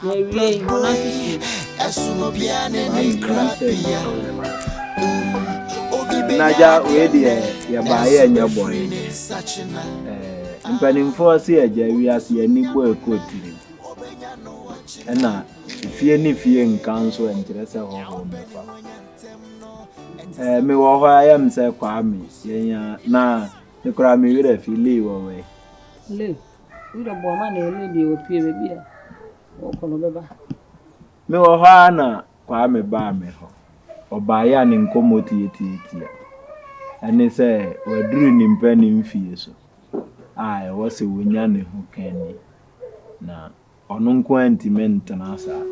Na awiei, hɔn asusua. Na agya wei deɛ yɛbaeɛ nyɛ bɔne ɛɛ mpanimfoɔ se agya wiase yɛni bɔ ɛkɔ tiri ɛna fie ne fie nka nso ɛnkyerɛ sɛ hɔhoɔ mɛfa ɛɛ mewɔ hɔ a yɛm sɛ kwame yɛnya na mekora me werɛ fi lee wɔ wɛ Mewɔ hɔ ara na Kwame baa me hɔ. Ɔbaeɛ a ne nkɔmmɔ tiatiatia ne sɛ waduru ne mpanin mfeɛ so a ɛwɔ sɛ ɔnya ne ho ka ni, na ɔno nko ara ntumi ntena saa.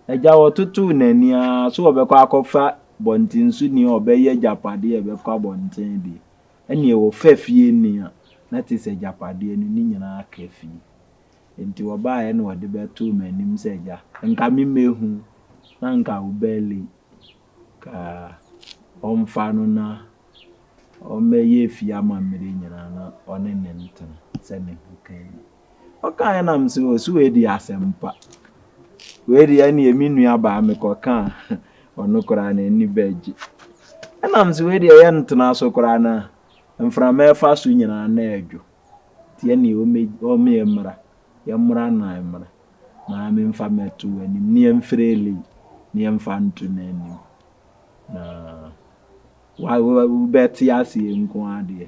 Agya ɔtotoo n'ani ara so ɔbɛkɔ akɔfa bɔntenso ni a ɔbɛyɛ agyapadeɛ a ɛbɛkɔ abɔnten deɛ. Ɛnneɛ wɔfa fie nni a, na te sɛ agyapadeɛ no, ne nyinaa ka fie. Enti wɔbaeɛ na wɔde bɛtoo m'anim sɛ, 'Gya, anka memmɛhu na anka wobɛyɛ late. Ka ɔmfa no na ɔmmɛyɛ fie amammerɛ nyinaa na ɔne no ntena, sɛ ne ho ka ni. Ɔkaeɛ na mese o so wei deɛ asɛm pa. Wei deɛ ɛneɛ me nua baa mekɔ ka a ɔno koraa n'ani bɛgye. Ɛna mese wei deɛ yɛ ntena so koraa na mframa ɛfa so nyinaa na ɛdwo. Nti ɛneɛ ɔme ɛmmra yɛ mmra na ɛmmra na memfa mɛto w'anim ne yɛmfrɛ Lay ne yɛmfa nto n'anim na wobɛte aseɛ nko ara deɛ.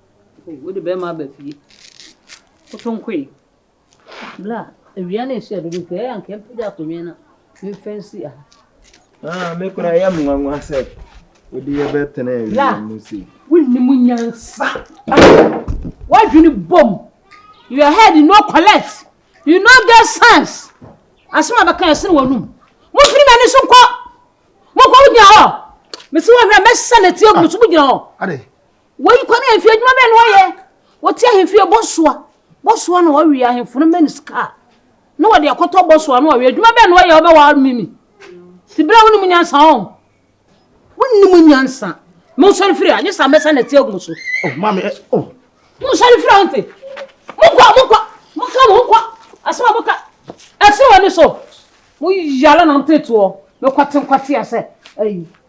Oh, wode bɛrima aba fie. Koto nkoe. Bla, awia no rehyɛ dodo nti ɛyɛ a nka mpagya akonnwa na memfa nsi aha. Ah, me koraa yɛ me nwanwa sɛ wode yɛ bɛtena awia mu sei. Wonni mu nyansa. Wadwene bom. Your head you no collect. You no get sense. Asɛm a bɛka ɛsene w'anum. Mofiri m'ani so nkɔ. Mokɔ wogyina hɔ. Mesi wɔhwɛ mɛsɛ ne tie gu so mogyina hɔ. Ade. Wɔyi kwan ahemfie adwuma bɛn na wɔyɛ? Wɔte ahemfie bɔsoa. Bɔsoa na wɔwe ahemfo no ma no sika a na wɔde akɔtɔ bɔsoa no wɔwe. Adwuma bɛn na wɔyɛ wɔbɛwa mimi? Ti berɛ a wonim nyansa ɔn. Wonim nyansa. Monsɔre firi a, nyɛ saa mɛsa na ti agu mo so. Oh, mami, eh, oh. Monsɔre firi a nti. Monkɔ, monkɔ, monkɔ, monkɔ. Asɛm a moka, ɛsere w'ani so. Mo yala na nteetoɔ. Mekwate nkwate asɛ, ayi.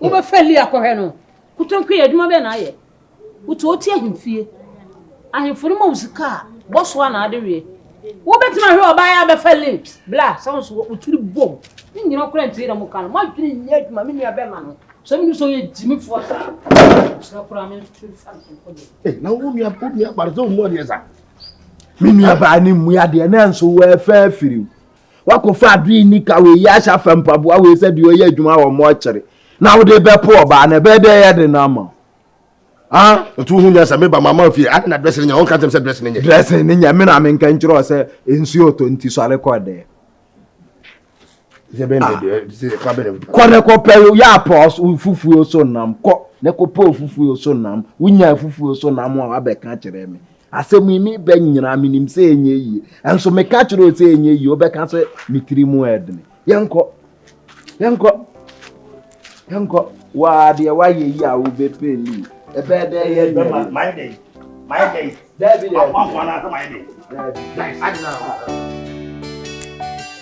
wobɛfa li akɔhwɛ no kotonkui yɛ adwuma bɛn na ayɛ wotu ɔte ahemfie ahemfo no ma wo sika a bɔ so a na ade wie wobɛtumi ahwɛ ɔbaa yɛ abɛfa li bla sɛ wo so wotiri bom ne nyina kora ntie dɛ mo ka no moadwene nyɛ adwuma me nua bɛma no sɛ menim sɛ ɔyɛ gyimifoɔ saa sɛ kora me nso fa nkɔdɛ na wo nua wo nua bari sɛ wo mu adeɛ saa me nua baa ne mu adeɛ na nso wɔafa afiri Woakɔfa adeɛ nni ka wei yi ahyɛ afa mpaboa wei sɛ deɛ ɔyɛ adwuma wɔ mɔɔkyere na wode bɛpo ɔbaa no ɛbɛyɛ dɛ ɛyɛ den ama wo ah. Nti wohu nyɛ sɛ meba mama fie ade na dress no nyɛ wonka nkyɛm sɛ dress no nyɛ. Dress no nyɛ me na menka nkyerɛ wo sɛ nsuo ɔtɔ nti sɔre kɔ dɛɛ. Kɔ ne kɔpɛ yɛ apɔ fufuo so nam kɔ ne kɔpɛ fufuo so nam wonya fufuo so nam a wabɛka kyerɛ me. Asɛm yi ne bɛ nyinaa menim sɛ ɛnyɛ yie. Nso meka kyerɛ wo sɛ ɛnyɛ yie, wobɛka sɛ me tiri mu ɛdene. Yɛnkɔ. Yɛnkɔ. Yɛnkɔ. Waa deɛ woayɛ yi a wobɛpɛ li. Ɛbɛyɛ dɛ yɛ nyɛ yie. Mayɛ dɛ. Mayɛ dɛ. Daabi dɛ. Akwafo anaasɛ mayɛ dɛ. Daabi. Daabi. Adena.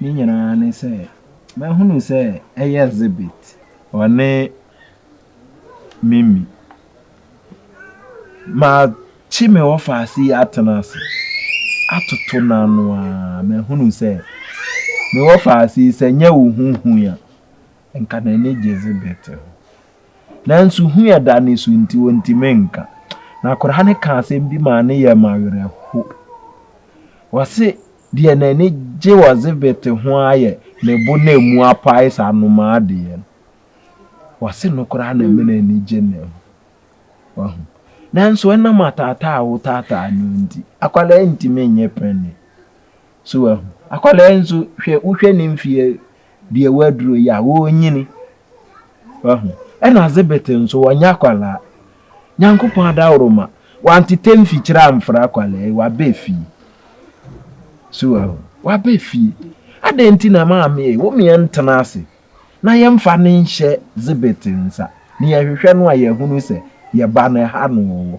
Ne nyinaa ne sɛ mahunu sɛ ɛyɛ Zibit. Ɔne Mimi. Makye me ɔfaase yi atena ase atoto no ano ara mahunu sɛ me ɔfaase yi sɛ nyɛ wo ho hu a, nka n'ani gye Zibit ho. Nanso hu a ɛda ne so nti ɔntumi nka. Na akwadaa no kaa asɛm bi maa ne yam awerɛho. Ɔse. Deɛ n'ani gye Ɔzebete ho ara yɛ ne bo na ɛmu apae saa nnomaa deɛ no. Ɔse no koraa na ɛma n'ani gye ne ho. Wahu? Nanso ɛnam ataataa a wotaataa no nti, akwadaa ntumi nyɛ panin. So wahu? Akwadaa nso, hwɛ, wohwɛ ne mfeɛ deɛ waduro yi a, ɔrenyini. Wahu? Ɛna Zebete nso, wanya akwadaa. Nyankopɔn adaworoma, wantete mfikyire amfra akwadaa yi, waba efie. So wahu? Waba efie. Adɛn nti na maame ei, wo meɛ ntena ase na yɛmfa no nhyɛ Zebete nsa, na yɛhwehwɛ no a yɛahunu sɛ yɛba no, ɛha na ɔwɔ.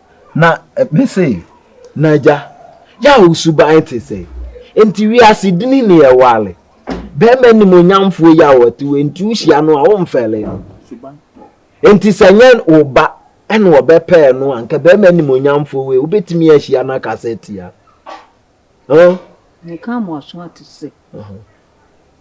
Na mese, Na Agya, yɛ a wo suban te sɛɛ, enti wiase dini ne yɛ ware. Barima animuonyamfoɔ yi a ɔte hɔ yi, enti wohyia no a, womfɛre no. Enti sɛ ɛnyɛ wo ba na wɔbɛpɛɛ no a, anka barima animuonyamfoɔ wei, wobɛtumi ahyia no akasa atia no? Ɔn? Meka mo aso ate sɛ,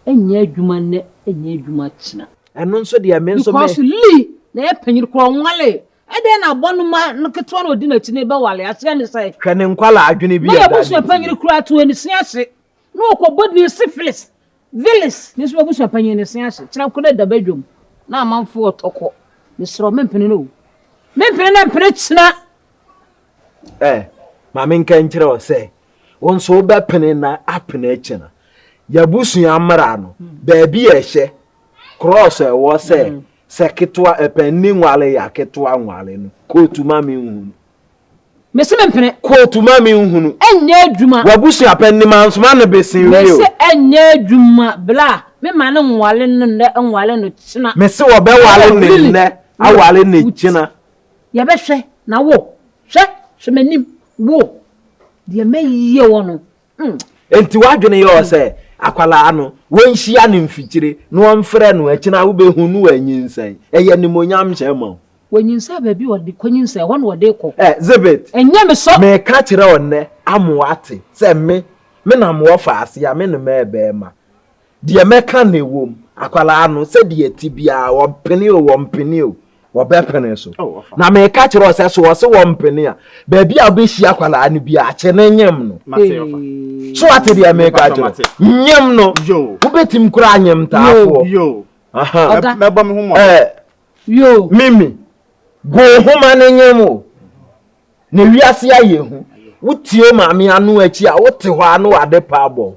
Ɛnyɛ adwuma nnɛ, ɛnyɛ adwuma kyena. Ɛno nso deɛ me nso me. Because Lee na ɛyɛ panyin koraa, ɔnwaree, Ɛdeɛn na abɔnoma no ketewa na ɔdi n'akyi no rebɛwale? Aseɛ ne sɛn? Hwɛ ne nkwadaa adwene bi a ɛda adi. Na yɛn abusuapanyin koraa too ne se ase na ɔkɔbɔ din Syphilis, Vilis. Me nso m'abusuapanyin ne se ase kyerɛ ko na ɛda badwam na amanfoɔ ɔtɔ kɔ. Mesrɛ wo, mempene no o. Mempene na mpene kyena. Ɛ, ma menka nkyerɛ wo sɛ, wo nso wobɛpene na apene kyena. Yɛn abusua mmara no, baabi a ɛhyɛ Krɔs a ɛwɔ sɛ sɛ ketewa ɛpɛ nni nwale yɛ a ketewa nwale no kootu ma me nhunu. Mese me mpene. Kootu ma me nhunu. Ɛnyɛ adwuma. W'abusua pɛ nnim anso ma no besen wie o. Mese ɛnyɛ adwuma bla me ma no nwale no nnɛ nwale no kyena. Mese wɔbɛwale no nnɛ awale no kyena. Yɛbɛhwɛ na wo hwɛ hwɛ m'anim wo deɛ mɛyɛ wɔ no. Hmm. Enti w'adwene yɛ ɔ sɛ akwadaa no wɔnhyia no mfikyire na wɔmfrɛ no akyina wobɛhu no wɔanyinsɛn. Ɛyɛ nimonyam hyɛ ma o. Wɔnyinsɛn baabi ɔde kɔ nyinsɛn ɛhɔ na ɔde kɔ. Ɛ zibit. Ɛnyɛ me sɔ. Meka kyerɛ ɔnnɛ amoa te sɛ me me na moɔ fa aseɛ a me ne mɛɛbɛɛma. Deɛ mɛka na ɛwom, akwadaa no, sɛdeɛ ɛte biara, wɔmpene o, wɔmpene o, wɔbɛpene so. Oh, ɔfa. Na meka kyerɛ wo sɛ, so wɔse wɔmpene a, baabi a wobɛhyia akwadaa no bi a, kye no nyem no. Mate, ɔfa. So wate deɛ meka Mepatɔ, kyerɛ mate. wo? Nyem no. Yo. Wobɛtim koraa nyem taafoɔ. Yo. Aha. Mɛ- Ɔga. Mɛbɔ me ho mmɔden. Eh, Yo. Mimi, go homa no nyem o. Na wiase ayɛ hu. Wotie o maame ano akyi a, wote hɔ a na wade pa abɔ wo.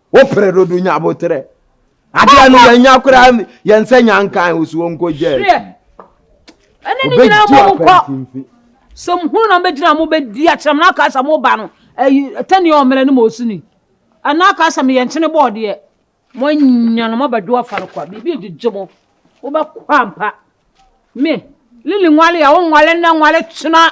Wo pere dodo nya abotere. Adeɛ no yɛn nya koraa yɛn sɛ nya nkan o so wɔn kɔ gya akyi. Ɛne ne nyinaa mo nkɔ. Sɛ mo hunu na mo bɛgyina mo bɛdi akyerɛ mo n'aka sɛ mo ba no ɛyi tɛni ɔmmerɛ ne mo osini. Ɛna aka sɛ mo yɛn kyene bɔɔdeɛ. Mo anya no mo bɛdo afa no kwa biribi gyegye mo. Wo bɛkɔ ampa. Me lili nwale a wo nwale nnɛ nwale kyena.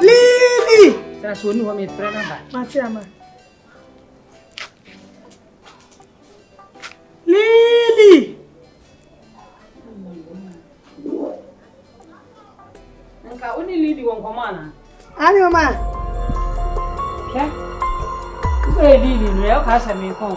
Lili! Tena so ɔni hɔ mefrɛ no aba. Mate ama. Lili! Nka wo ne Lili wɔ nkɔmɔ anaa? Ani ɔma. Hwɛ. Wobɛyɛ Lili no, ɛyɛ ɔka sɛ menkɔn.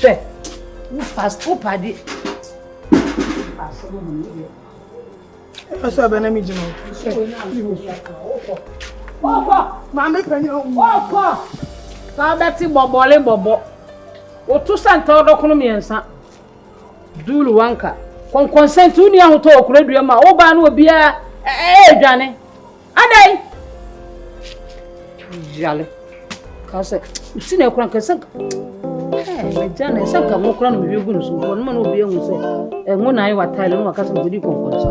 Hwɛ, wo past wo pade. Past wo mu yɛ. Ɛfɛ sɛ ɔbɛ na mi gyina. Ɔkɔ. Maame panyin ɔwɔ. Ɔkɔ. Sɛ ɔbɛte bɔbɔle bɔbɔ. Woto sɛ nta ɔdɔkono mmiɛnsa. Duulu wanka. Kɔnkɔnsɛnti wo nua ahotɔ okura dua mu a wobaa no obiara ɛɛdwane. Adai! Yale. Ka sɛ, nti na ɛkora nka sɛ agya na ɛsɛ nka nwokora no mehwɛ gu no so mpo no ma na obi ahu sɛ ɛnwo na ayɛ watae no na waka sɛ mekɔdi kɔnkɔnsa.